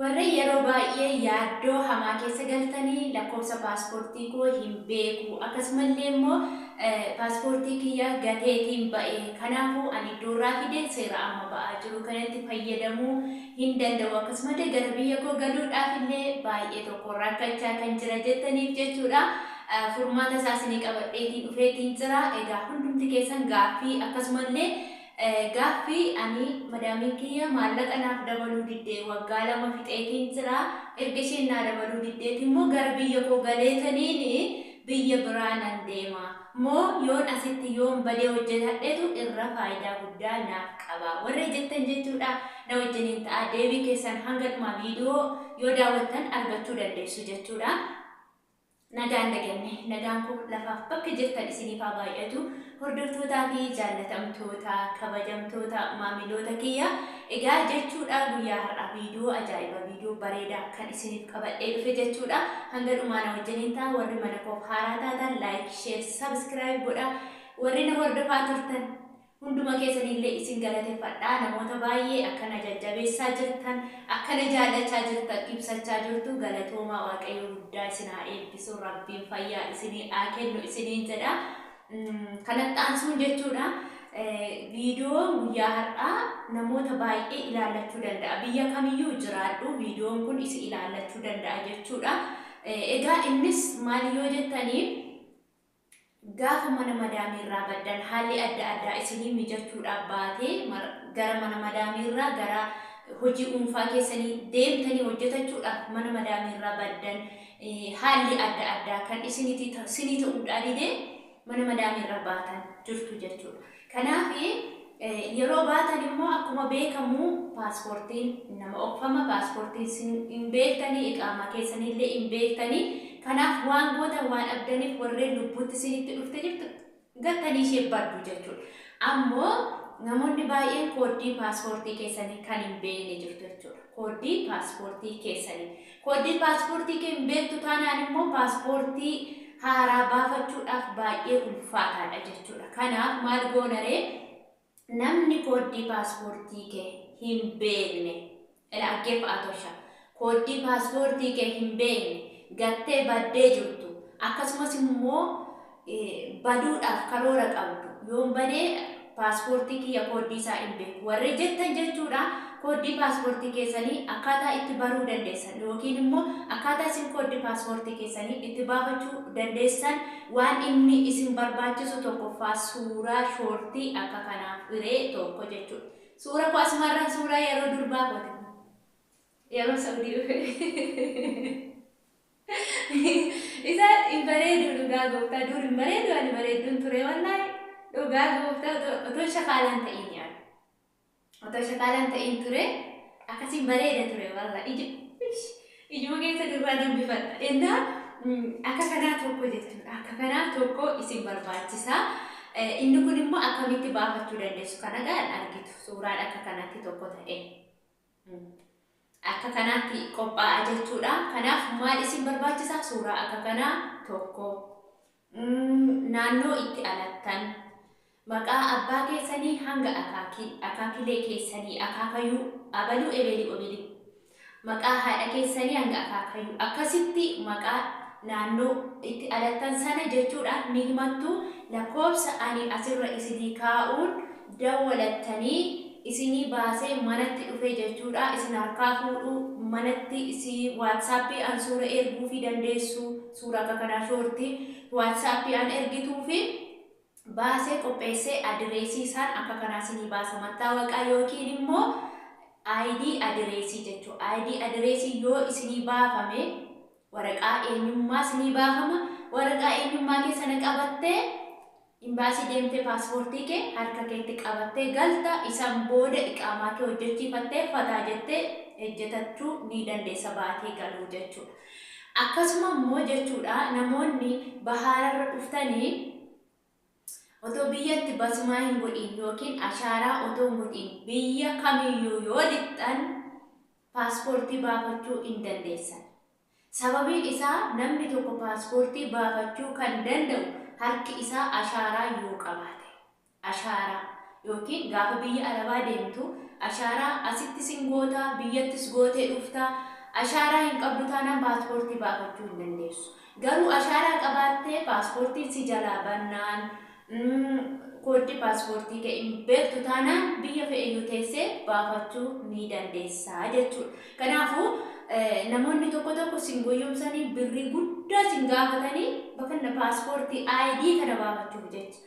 Warreen yeroo baay'ee yaaddoo hamaa keessa galtanii lakkoofsa paaspoortii koo hin beeku akkasumallee immoo paaspoortii kiyya gateetiin ba'e kanaafuu ani iddoo irraa fide seera amma ba'aa jiru kanatti fayyadamuu hin danda'u akkasumallee gara biyya koo galuudhaaf illee baay'ee tokko rakkachaa kan jira jettaniif jechuudha furmaata isaas ni qabadheetiin dhufeetiin jira egaa hundumti keessan gaaffii akkasumallee Gaaffii, Ani madaamiin kiyya maallaqa naaf dabaluu didde waggaa lama fixeetiin jira, erga isheen naa dabaluu diddeeti immoo gara biyya koo galeetaniin biyya biraa nan deema moo yoon asitti yoon badee hojjetadhetu irra faayidaa guddaa naaf qaba warri jettan jechuudha na wajjiniin ta'aa deebii keessan hanga dhumaa viidiyoo yoo daawwattan argachuu dandeessu jechuudha. Nagaan dhaganne. Nagaan kun lafaaf bakka jirtan isiniif haa baay'atu. Hordoftootaa fi jaallatamtoota, kabajamtoota, maamiloota kiyya. Egaa jechuudha guyyaa har'aa viidiyoo ajaa'iba, viidiyoo bareeda kan isiniif qabadhee dhufe jechuudha. Hanga dhumaa na wajjiniin ta'a. Warri mana koof haaraa taatan like, share, subscribe godha. Warri na hordofaa turtan Hunduma keessaniillee isin galateffadha. Namoota baay'ee akka na jajjabeessaa jirtan, akka na jaallachaa jirtan ibsachaa jirtu. Galatoomaa Waaqayyo guddaa isin haa eebbisu. Rabbiin fayyaa isinii haa kennu isiniin jedha. Kanatti aansuun jechuudha viidiyoon guyyaa har'aa namoota baay'ee ilaallachuu danda'a. Biyya kamiyyuu jiraadhu viidiyoon kun isi ilaallachuu danda'a jechuudha. Egaa innis maal yoo jettanii Gaafa mana madaamii irraa baddan haalli adda addaa isinii mijachuudhaaf baatee gara mana madaamii irraa gara hojii uunfaa keessanii deemtanii hojjetachuudhaaf mana madaamii irraa baddan haalli adda addaa kan isiniti sinii ta'uudhaa didee mana madaamii irraa baatan jirtu jechuudha. Kanaaf yeroo baatan immoo akkuma beekamu paaspoortiin nama obfama, paaspoortii isin hin beektanii, iqaamaa keessan illee hin beektanii. Kanaaf waan gootan waan dhabdaniif warreen lubbuutti isinitti dhufte jirtu gattanii ishee baddu jechuudha. Ammoo namoonni baay'een kooddii paaspoortii keessanii kan hin beekne jirtu jechuudha. Kooddii paaspoortii keessanii. Koodii paaspoortii kee hin beektu taanaan immoo paaspoortii haaraa baafachuudhaaf baay'ee ulfaataadha jechuudha. Kanaaf maal goona ree? Namni kooddii paaspoortii kee hin beekne ila aggeeffa atosha kooddii paaspoortii kee hin beekne gattee baddee jirtu akkasumas immoo baduudhaaf karoora qabdu yoon bade paaspoortii kiyya kooddii isaa hin beeku warri jettan jechuudha kooddii paaspoortii keessanii akkaataa itti baruu dandeessan yookiin immoo akkaataa isin kooddii paaspoortii keessanii itti baafachuu dandeessan waan inni isin barbaachisu tokkoffaa suuraa shoortii akka kanaa firee tokko jechuudha. Suura koo asumarraan suuraa yeroo durbaa kooti kun yeroo Saudii dhufe. Isa hin bareedu dhugaa gooftaa dur hin bareedu ani bareedduun ture wallaahi dhugaa gooftaa otoo- otoo shakaalaan ta'in yaa otoo shakaalaan ta'in ture akkasiin bareeda ture walla ija ish, ijuma keessa durraa nan bifadha ennaa mm, akka kanaa tokko jettan akka kanaa tokko isin barbaachisa Eh, inni kun immoo akkamitti baafachuu dandeessu kana gahan argitu suuraan akka kanatti tokko ta'e. Akka kanaatti qophaa'a jechuudha. Kanaaf maal isin barbaachisa? Suuraa akka kanaa tokko, naannoo itti alattan, maqaa abbaa keessanii hanga akaakii, akaakilee keessanii, akaakayuu, abaluu ebeelii obilii, maqaa haadha keessanii hanga akaakayuu, akkasitti maqaa naannoo itti alattan sana jechuudhaan ni himattu. Lakkoofsa ani asirra isinii kaa'uun dawwalattanii isinii baasee manatti dhufee jechuudha isin harkaa fuudhuu manatti si whatsapp an suura erguufii dandeessu suura akka kanaa shoorti whatsapp an ergituufi baasee qopheessee adireesii isaan akka kanaa sinii baasa mattaawaqaa yookiin immoo ID adireesii jechuu ID adireesii yoo isinii baafame waraqaa eenyummaa sinii baafama waraqaa eenyummaa keessana qabattee Imbaasii deemtee paaspoortii kee harka keetti qabattee galta, isan booda iqaamaa kee hojjechiifattee fataa jettee ejjetachuu ni dandeessa baatii galuu jechuudha. Akkasuma immoo jechuudha namoonni bahaararra dhuftani otoo biyyatti basumaa hin godhiin yookiin ashaaraa otoo hin godhiin biyya kamiyyuu yoo lixxan paaspoortii baafachuu hin dandeessan. Sababiin isaa namni tokko paaspoortii baafachuu kan danda'u harki isaa ashaaraa yoo qabaate. Ashaaraa. Yookiin gaafa biyya Arabaa deemtu ashaaraa asittis hin goota, biyyattis gootee dhufta. Ashaaraa hin qabdu taanaan paaspoortii baafachuu hin dandeessu. Garuu ashaaraa qabaattee paaspoortiin si jalaa bannaan Umm kooddii paaspoortii kee hin beektu taanaan biyya fe'eyyuu teessee baafachuu ni dandeessa jechuudha. Kanaafuu namoonni tokko tokko sin goyyomsanii birrii guddaa sin gaafatanii bakanna paaspoortii ID kana baafachuuf jecha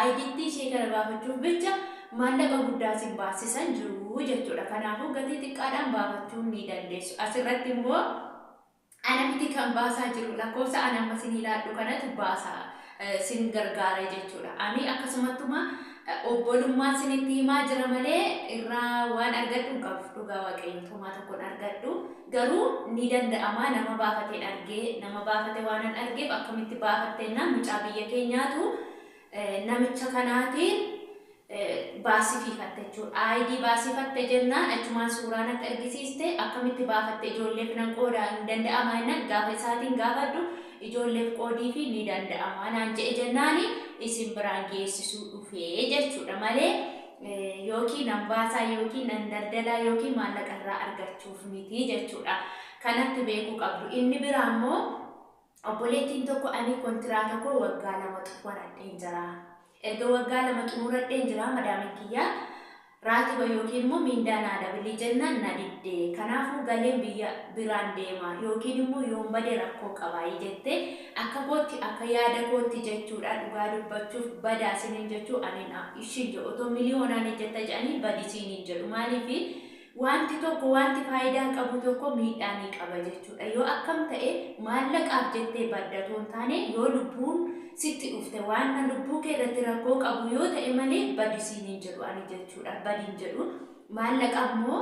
IDtti ishee kana baafachuuf bicha maallaqa guddaa sin baassisan jiru jechuudha. Kanaafuu gatii xiqqaadhaan baafachuu ni dandeessu. Asirratti immoo Ana miti kan baasaa jiru, lakkoofsa ani amma isinii laadhu kanatu baasa, sin gargaara jechuudha. Ani akkasumattuma obbolummaan sinitti himaa jira malee irraa waan argadhu hin qabu. Dhugaa Waaqayyoo homaa tokko hin argadhu. Garuu ni danda'ama nama baafateen argee, nama baafate waanan argeef akkamitti baafattennaan mucaa biyya keenyaatu, namicha kanaatiin baasifiifatte jechuudha. ID baasifatte jennaan achumaan suuraan akka ergisiiste akkamitti baafatte ijoolleef nan qooda hin danda'ama jennaan gaafa isaatiin gaafadhu ijoolleef qoodii fi ni danda'ama naan je'e jennaani isin biraan geessisuu dhufee jechuudha malee yookiin nan baasaa yookiin nan daldalaa yookiin maallaqa irraa argachuuf miti jechuudha. Kanatti beekuu qabdu. Inni biraa immoo Obboleettiin tokko ani kontiraata koo waggaa lama xumuradheen jira. Erga waggaa lama xumuradheen jira madaamin kiyya raatiba yookiin immoo miindaa naa dabili jennaan na didde. Kanaafuu galeen biyya biraan deema yookiin immoo yoon bade rakkoo qabaayi jette. Akka kootti akka yaada kootti jechuudha dhugaa dubbachuuf badaa sinin jechuu anin ishiin jedhu otoo miliyoonaan hejjetta jedhanii badi siinin jedhu maaliifi Wanti tokko, wanti faayidaa qabu tokko miidhaa ni qaba jechuudha. Yoo akkam ta'e maallaqaaf jettee badda otoo hin taane yoo lubbuun sitti dhufte waanna lubbuu kee irratti rakkoo qabu yoo ta'e malee badi siin hin jedhu ani jechuudha. Badi hin jedhu. Maallaqa ammoo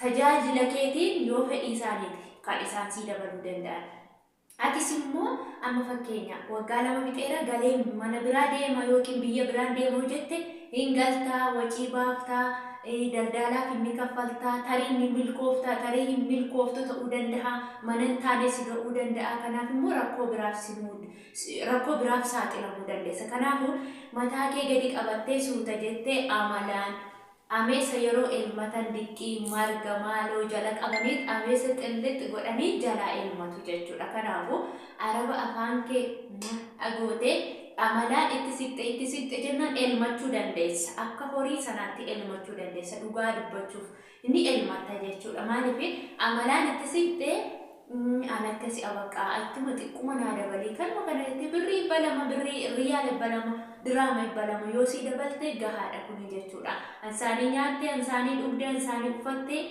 tajaajila keetiin yoo fedhii isaaniiti kan isaan sii dabaluu danda'an. Atis immoo amma fakkeenya waggaa lama fixeera galeen mana biraa deema yookiin biyya biraan deema yoo jette hin galtaa, wacii baafta, daldaalaaf inni kaffalta, tarii ni milkoofta, tarii hin milkooftu ta'uu danda'a, mana hin taane si ga'uu danda'a, kanaaf immoo rakkoo biraaf si muud rakkoo biraaf saaxilamuu dandeessa. Kanaafuu mataa kee gadi qabattee suuta jettee amalaan, Ameesa yeroo elmatan diqqii, marga, maaloo jala qabaniit ameesa xillixx godhanii jalaa elmatu jechuudha. Kanaafuu Araba afaan kee mah gootee amalaan itti siqxe itti siqxe jennaan elmachuu dandeessa. Akka horii sanaatti elmachuu dandeessa dhugaa dubbachuuf ni elmatta jechuudha. Maaliif amalaan itti siqxee Uumm an akkasi a baqaa achuma xiqquma naa dabalii kanuma kana jettee birrii dhibba lama birrii riyaala dhibba lama diraama dhibba lama yoo sii dabaltee gahaadha kuni jechuudha an saanii nyaattee an saanii dhugdee an saanii ufattee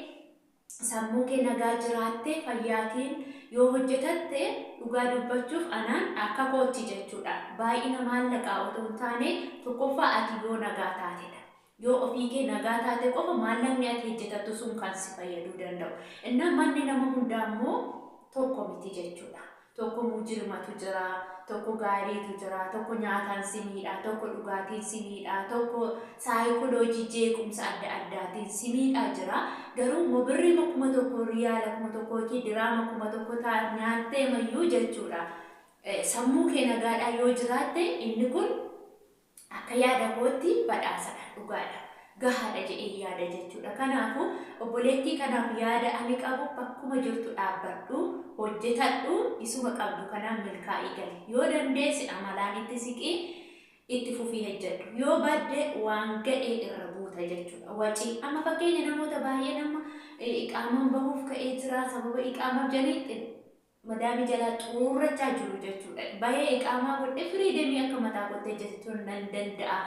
sammuu kee nagaa jiraattee fayyaatiin yoo hojjetatte dhugaa dubbachuuf anaan akka kootti jechuudha baay'ina maallaqaa otoo hin taane tokkoffaa ati yoo nagaa taatedha Yoo ofii kee nagaa taate qofa maallaqni ati hejjetattu sun kan si fayyaduu danda'u. Innaa manni nama hundaa immoo tokko miti jechuu dha. Tokko mujrimatu jira, tokko gaariitu jira, tokko nyaataan si miidha, tokko dhugaatiin si miidha, tokko saayikoloojii jeequmsa adda addaatiin si miidhaa jira. Garuu immoo birriima kuma tokko, riyaala kuma tokko yookiin diraama kuma tokko ta nyaatteema iyyuu jechuu dha. Sammuu kee nagaadhaan yoo jiraatte inni kun Akka yaada kootti badhaasadha. Dhugaadha. Gahaadha jedheen yaada jechuudha. Kanaafuu, obboleettii kanaaf yaada ani qabu bakkuma jirtu dhaabbadhu, hojjetadhu, isuma qabdu kanaan milkaa'ii gali. Yoo dandeesse amalaan itti siqi, itti fufii hojjedhu. Yoo badde waan ga'e irra buuta jechuudha. Waci. Amma fakkeenya namoota baay'een amma iqaamaan bahuuf ka'ee jira, sababa iqaamaaf jedhanii madaami jalaa xuurrachaa jiru jechuudha. Bahee iqaamaa godhe firii demii akka mataa kootti hojjetachuun nan danda'a.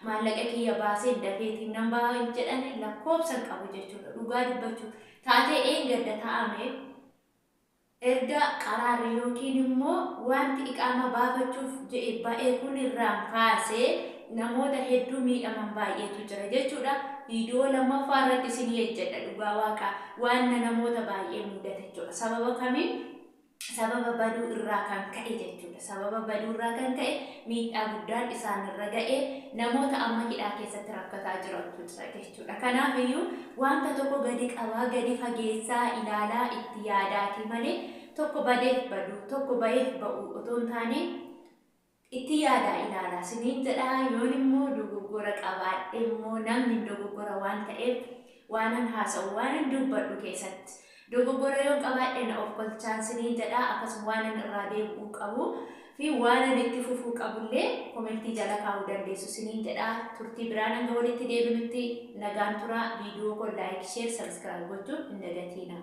Maallaqa kiyya baaseen dafeetiin nan baha hin jedhani lakkoobsan qabu jechuudha. Dhugaa dubbachuu taatee eengadda ta'ame erga qaraarri yookiin immoo wanti iqaamaa baafachuuf je'e ba'e kun irraan kaasee namoota hedduu miidhaman baay'eetu jira jechuudha. Viidiyoo lammaffaa irratti isinii ejjedha dhugaa waaqaa waanna namoota baay'ee muudate jechuudha. Sababa kamiin? Sababa baduu irraa kan ka'e jechuudha. Sababa baduu irraa kan ka'e miidhaa guddaan isaan irra ga'e namoota amma hidhaa keessatti rakkataa jirantu jira jechuudha. Kanaaf iyyuu wanta tokko gadi qabaa, gadi fageessaa, ilaalaa, itti yaadaatii malee tokko badeef baduu, tokko ba'eef ba'uu otoo hin taane Itti yaadaa ilaalaa siniin jedha, yoon immoo dogoggora qabaadhe immoo namni hin dogoggora waan ta'eef waanan haasa'u, waanan dubbadhu keessatti dogoggora yoon qabaadhe na ofkolchaan siniin jedha, akkasuma waanan irraa deebi'uu qabu fi waanan itti fufuu qabu illee komentii jala kaa'uu dandeessu siniin jedha. Turtii biraan hanga walitti deebinutti nagaan turaa, viidiyoo koo like, share, subscribe gochuu hin dagatiinaa.